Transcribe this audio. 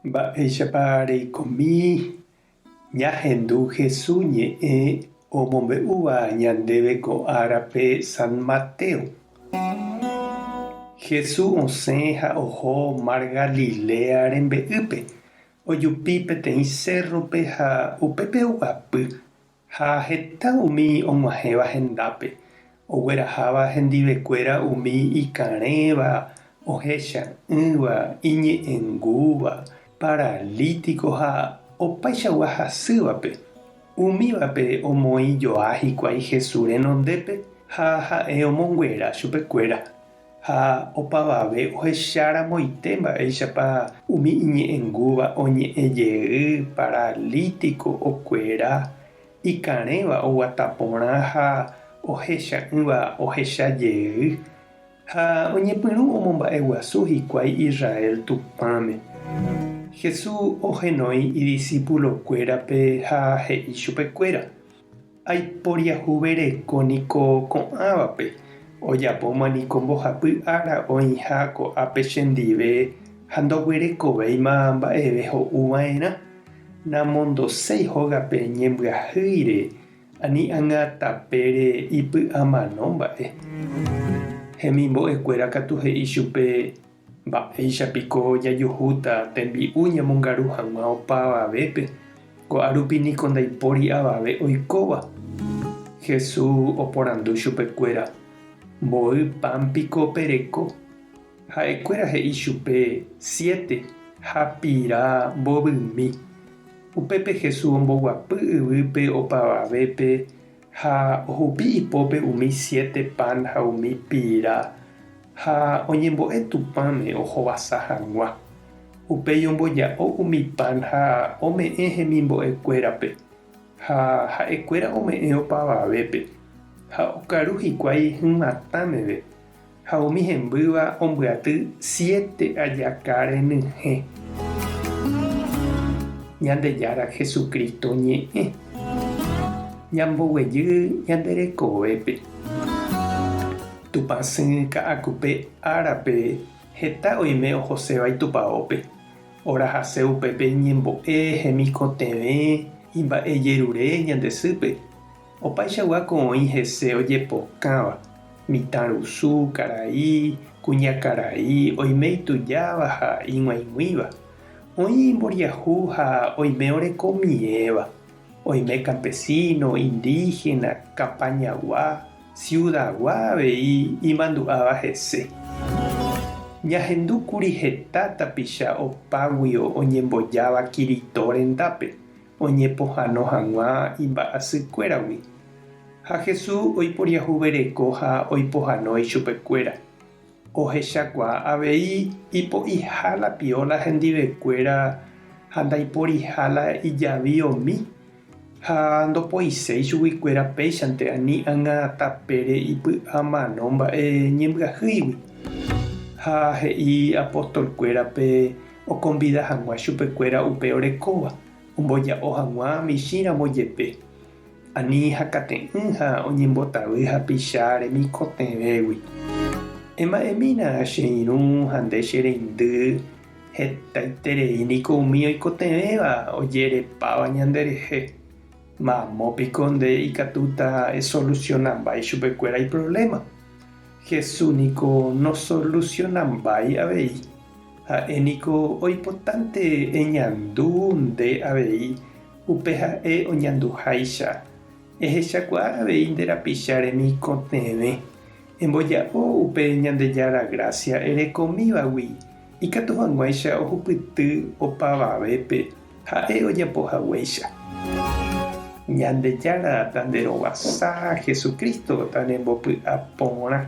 Mba'éichapa reikomi ñahendu Hesu ñe'ẽ omombe'úva ñandéve ko árape San Mateo? Hesu osẽ ha oho Mar Galilea rembe'ýpe, ojupi peteĩ sérrope ha upépe oguapy Ha heta umi og̃uahẽva hendápe, ogueraháva hendivekuéra umi ikarẽva, ohecha'ỹva, iñe'ẽngúva, paralítiko ha opaichagua hasývape, umívape omoĩ joa hikuái Jesús renondépe ha ha'e omonguera chupekuéra. Ha opavave ohecháramoite mba'éichapa umi iñe'ẽngúva oñe'ẽ jey, paralítiko okuera, ikarẽva oguata porã ha ohecha'ỹva ohecha jey, ha oñepyrũ omomba'eguasu hikuái Israel Tupãme. Jesús ohenói idisípulokuérape ha he'i chupekuéra. Aiporiahuvereko niko ko'ãvape, ojapóma niko mbohapy ára oĩha ko'ápe chendive ha ndoguerekovéima mba'eve ho'uva'erã. Namondoséi hógape ñembyahýire ani ág̃a tapére ipy'amano mba'e. Hemimbo'ekuéra katu he'i chupe Mba'éicha piko jajuhúta tembi'u ñamongaru hag̃ua opa avavépe, ko'árupi niko ndaipóri avave oikóva? Jesús oporandu chupekuéra, Mboy pan piko pereko? Ha'ekuéra he'i chupe, Siete, ha pira mbovymi. Upépe Jesús omboguapy yvýpe opa avavépe Ha ohupi ipópe umi siete pan ha umi pira, ha oñembo'e Tupãme ohovasa hag̃ua. Upéi omboja'o umi pan ha ome'ẽ hemimbo'ekuérape, ha ha'ekuéra ome'ẽ opavavépe, ha okaru hikuái hymatã meve. Ha umi hembýva ombyaty siete ajaka renyhẽ. Ñandejára Jesucristo ñe'ẽ. Ñamboguejy ñande rekovépe. Tupã sỹ ka'akupe árape heta oime ohoséva Itupaópe. Orahase upépe iñembo'e hemikotevẽ imba'ejerure ñande sýpe. Opaichagua ko oĩ hese ojepokãva, mitãrusu, karai, kuñakarai, oime itujáva ha ig̃uaig̃uĩva, oĩ imboriahu ha oime oreko miẽva, oime kampesíno, indígena, kapañagua, siudagua avei imandu'áva hese. Ñahendúkuri heta tapicha opáguio oñembojáva Kirito rendápe, oñepohano hag̃ua imba'asykuéragui. Ha Jesús oiporiahuvereko ha oipohano ichupekuéra. Ohechakuaa avei ipo'iha la pióla hendivekuéra ha ndaiporiha la ijavi omi, ha ndopoiséi chuguikuéra péichante ani ág̃a tapére ipy'a mano mba'e ñembyahýigui. Ha he'i apostolkuérape, okonvida hag̃ua chupekuéra upe orekóva omboja'o hag̃ua michĩramo jepe, ani hakate'ỹ ha oñembotavy hapicha remikotevẽgui. Ema'ẽmína che irũ ha nde che reindy, hetaiterei niko umi oikotevẽva ojerepáva ñanderehe, mamo piko nde ikatúta esolusionambái chupekuéra iprovléma? Jesús niko nosolusionambái avei. Ha'e niko oipotánte eñandu nde avei, upe ha'e oñanduháicha. Ehechakuaa avei nde rapicha remikotevẽ. Emboja'o upe Ñandejára grásia erekomívagui, ikatu hag̃uáicha ohupyty opavavépe ha'e ojapo haguéicha. Ñandejára tanderovasa, Jesucristo tanembopy'a porã.